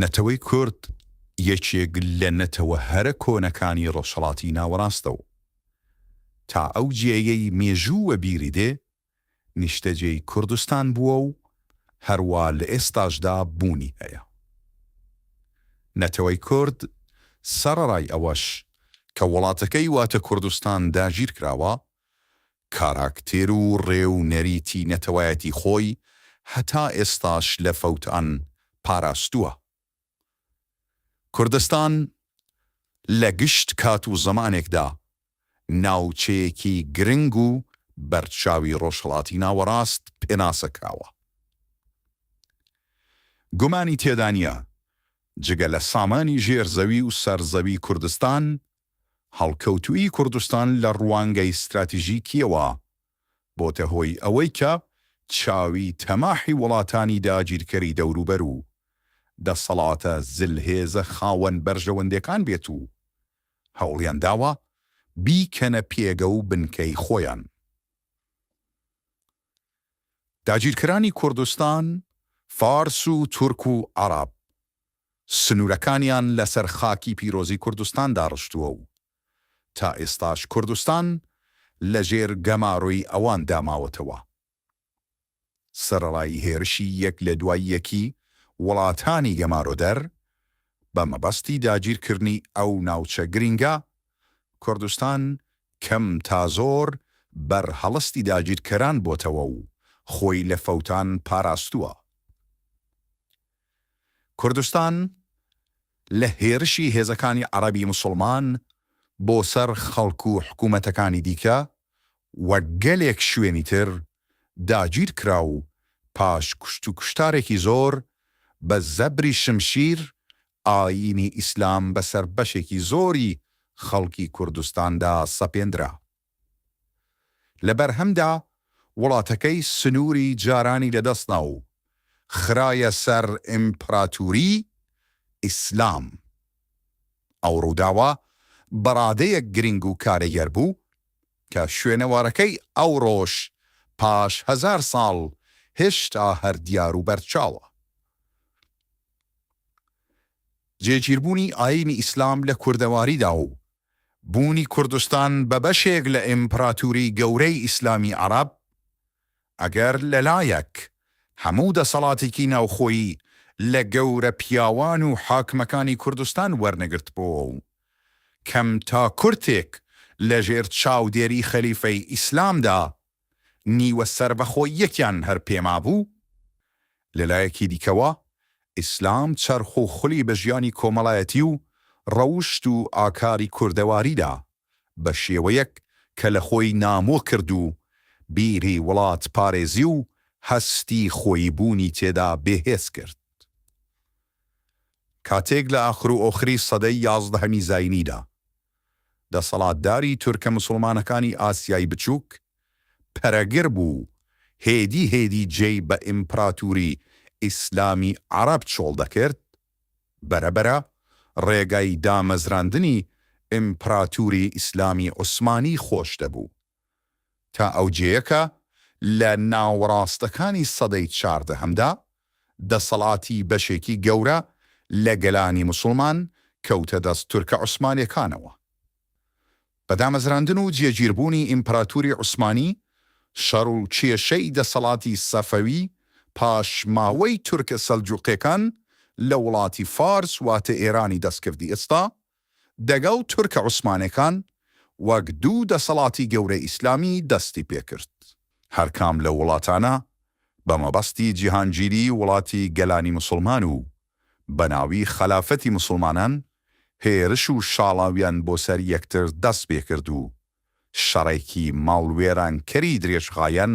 نەتەوەی کورد یەکێک لە نەتەوە هەرە کۆنەکانی ڕۆژهەڵاتی ناوەڕاستە و تا ئەو جێیەی مێژوو وەبیری دێ نیشتەجێی کوردستان بووە و هەروا لە ئێستاشدا بوونی هەیە. نەتەوەی کورد سەڕەرای ئەوەش کە وڵاتەکەی واتە کوردستان داگیر کراوە، کاراکتێر و ڕێ و نەریتی نەتەوایەتی خۆی هەتا ئێستاش لە فەوتان پاراستووە. کوردستان لە گشت کات و زەمانێکدا ناوچەیەکی گرنگ و بەرچاوی ڕۆژهەڵاتی ناوەڕاست پێناسە کراوە. گومانی تێدا نییە جگە لە سامانی ژێر زەوی و سەر زەوی کوردستان، هەڵکەوتوویی کوردستان لە ڕوانگەی ستراتیژیکییەوە بۆتە هۆی ئەوەی کە چاوی تەماحی وڵاتانی داگیرکەری دەوروبەر و دەسەڵاتە زلهێزە خاوەن بەرژەوەندێکان بێت و هەوڵیان داوە بیکەنە پێگە و بنکەی خۆیان. داگیرکەرانی کوردستان، فارس و تورک و عەڕەب، سنوورەکانیان لەسەر خاکی پیرۆزی کوردستان داڕشتووە و تا ئێستاش کوردستان لە ژێر گەمارۆی ئەوان دا ماوەتەوە. سەرەڕای هێرشی یەک لە دوای یەکی وڵاتانی گەمارۆدەر بە مەبەستی داگیرکردنی ئەو ناوچە گرینگە، کوردستان کەم تا زۆر بەر هەڵستی داگیرکەران بۆتەوە و خۆی لە فەوتان پاراستووە. کوردستان لە هێرشی هێزەکانی عەڕەبی موسڵمان بۆ سەر خەڵک و حکوومەتەکانی دیکە و گەلێک شوێنی تر داگیر کرا و پاش کوشت و کوشتارێکی زۆر بە زەبری شمشیر ئایینی ئیسلام بەسەر بەشێکی زۆری خەڵکی کوردستاندا سەپێندرا. لە بەرهەمدا وڵاتەکەی سنووری جارانی لەدەستدا و خرایە سەر ئیمپراتووریی ئیسلام. ئەو ڕووداوە بەڕادەیەک گرنگ و کارێگەر بوو کە شوێنەوارەکەی ئەوڕۆش پاش هەزار ساڵ هێشتا هەر دیار و بەرچاوە. جێگیربوونی ئایینی ئیسلام لە کوردەواریدا و بوونی کوردستان بە بەشێک لە ئیمپراتوری گەورەی ئیسلامی عەڕەب، ئەگەر لە لایەک هەموو دەسەڵاتێکی ناوخۆیی لە گەورە پیاوان و حاکمەکانی کوردستان وەرنەگرتبۆوە و کەم تا کورتێک لە ژێر چاودێری خەلیفەی ئیسلامدا نیوە سەربەخۆییەکیان هەر پێمابوو، لە لایەکی دیکەوە ئیسلام چەرخ و خولی بە ژیانی کۆمەڵایەتی و ڕەوشت و ئاکاری کوردەواری دا، بە شێوەیەک کە لە خۆی نامۆ کرد و بیری وڵاتپارێزی و هەستی خۆیی بوونی تێدا بێهێز کرد. کاتێک لە ئاخرو ئۆخری سەدەی یازدەهەمی زاینیدا، دەسەڵاتداری تورکە مسوڵمانەکانی ئاسیای بچووک پەرەگر بوو، هێدی هێدی جێی بە ئیمپراتوری ئیسلامی عەڕەب چۆڵ دەکرد، بەرە بەرە ڕێگای دامەزراندنی ئیمپراتوری ئیسلامی عوسمانی خۆش دەبوو. تا ئەوجێیە کە لە ناوەڕاستەکانی سەدەی چاردەهەمدا دەسەڵاتی بەشێکی گەورە لە گەلانی موسڵمان کەوتە دەست تورکە عوسمانێکانەوە. بە دامەزراندن و جێگیربوونی ئیمپراتوری عوسمانی، شەڕ و کێشەی دەسەڵاتی سەفەوی پاشماوەی تورکە سەلجوقێکان لە وڵاتی فارس واتە ئێرانی دەستکردی ئێستا دەگەڵ تورکە عوسمانێکان وەک دوو دەسەڵاتی گەورەی ئیسلامی دەستی پێکرد. هەرکام لەو وڵاتانە بە مەبەستی جیهانگیری وڵاتی گەلانی موسڵمان و بە ناوی خەلافەتی موسڵمانان هێرش و شاڵاویان بۆ سەر یەکتر دەست پێکرد و شەڕێکی ماڵوێرانکەری درێژخایەن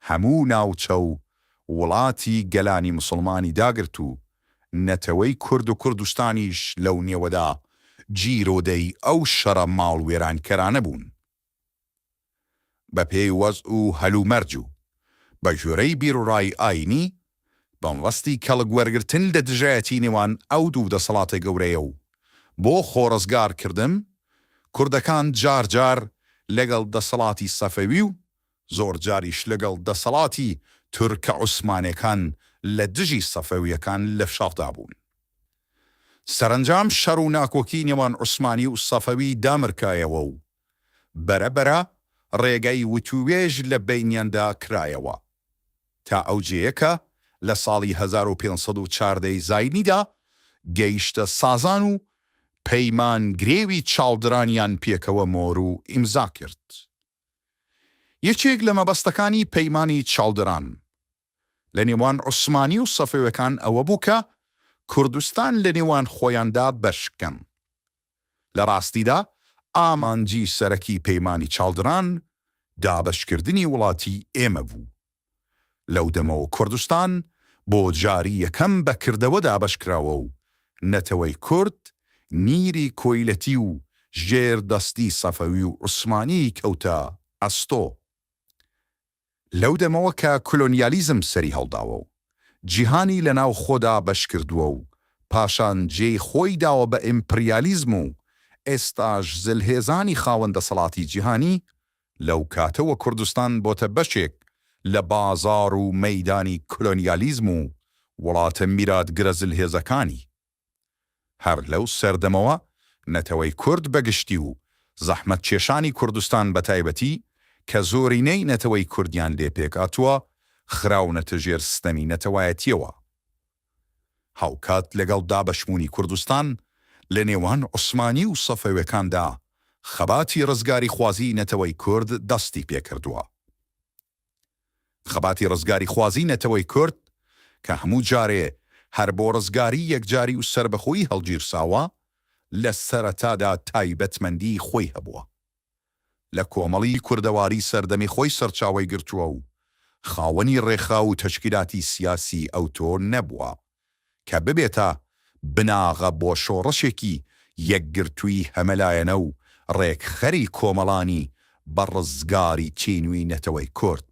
هەموو ناوچە و وڵاتی گەلانی موسڵمانی داگرت و نەتەوەی کورد و کوردستانیش لەو نێوەدا گیرۆدەی ئەو شەڕە ماڵوێرانکەرانە بوون. بەپێی وەزع و هەلومەرج و بە گوێرەی بیروڕای ئایینی، بنبەستی کەڵک وەرگرتن لە دژایەتی نێوان ئەو دوو دەسەڵاتە گەورەیە و بۆ خۆڕزگارکردن، کوردەکان جار جار لەگەڵ دەسەڵاتی سەفەوی و زۆر جاریش لەگەڵ دەسەڵاتی تورکە عوسمانێکان لە دژی سەفەویەکان لە شەڕدا بوون. سەرەنجام شەڕ و ناکۆکی نێوان عوسمانی و سەفەوی دامرکایەوە و بەرە بەرە ڕێگای وتووێژ لە بەینیاندا کرایەوە تا ئەو جێیە کە لە ساڵی هەزار و پێنج سەد و چاردە ی زاینیدا گەیشتە سازان و پەیمان گرێوی چاڵدرانیان پێکەوە مۆر و ئیمزا کرد. یەکێک لە مەبەستەکانی پەیمانی چاڵدران لە نێوان عوسمانی و سەفەوێکان ئەوە بوو کە کوردستان لە نێوان خۆیاندا بەش بکەن. لە ڕاستیدا ئامانجی سەرەکی پەیمانی چاڵدران دابەشکردنی وڵاتی ئێمە بوو. لەو دەمەوە کوردستان بۆ جاری یەکەم بە کردەوە دابەشکراوە و نەتەوەی کورد نیری کۆیلەتی و ژێر دەستی سەفەوی و عوسمانی کەوتە ئەستۆ. لەو دەمەوە کە کلۆنیالیزم سەری هەڵداوە و جیهانی لە ناو خۆدا بەشکردووە و پاشان جێی خۆی داوە بە ئیمپریالیزم و ئێستاش زلهێزانی خاوەن دەسەڵاتی جیهانی لەو کاتەوە کوردستان بۆتە بەشێک لە بازاڕ و مەیدانی کۆلۆنیالیزم و وڵاتە میراتگرە زلهێزەکانی. هەر لەو سەردەمەوە نەتەوەی کورد بە گشتی و زەحمەتکێشانی کوردستان بە تایبەتی کە زۆرینەی نەتەوەی کوردیان لێ پێکهاتووە، خراونەتە ژێر ستەمی نەتەوایەتییەوە. هاوکات لەگەڵ دابەشبوونی کوردستان لە نێوان عوسمانی و سەفەوێکاندا خەباتی ڕزگاریخوازی نەتەوەی کورد دەستی پێکردووە. خەباتی ڕزگاریخوازی نەتەوەی کورد کە هەموو جارێ هەر بۆ ڕزگاری یەکجاری و سەربەخۆیی هەڵگیرساوە، لە سەرەتادا تایبەتمەندیی خۆی هەبووە. لە کۆمەڵی کوردەواری سەردەمی خۆی سەرچاوەی گرتووە و خاوەنی ڕێخراو و تەشکیلاتی سیاسی ئەوتۆ نەبووە کە ببێتە بناغە بۆ شۆڕشێکی یەکگرتووی هەمەلایەنە و ڕێکخەری کۆمەڵانی بە ڕزگاری تینووی نەتەوەی کورد،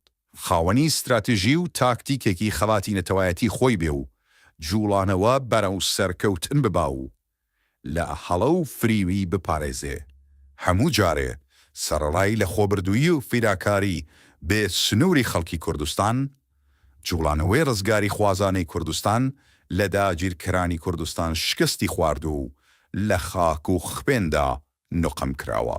خاوەنی ستراتژی و تاکتیکێکی خەباتی نەتەوایەتی خۆی بێ و جووڵانەوە بەرەو سەرکەوتن ببا و لە هەڵە و فریوی بپارێزێ، هەموو جارێ سەرەڕای لەخۆبردوویی و فیداکاری بێ سنووری خەڵکی کوردستان، جوڵانەوەی ڕزگاریخوازانەی کوردستان لە داگیرکەرانی کوردستان شکستی خواردووە و لە خاک و خوێندا نوقم کراوە.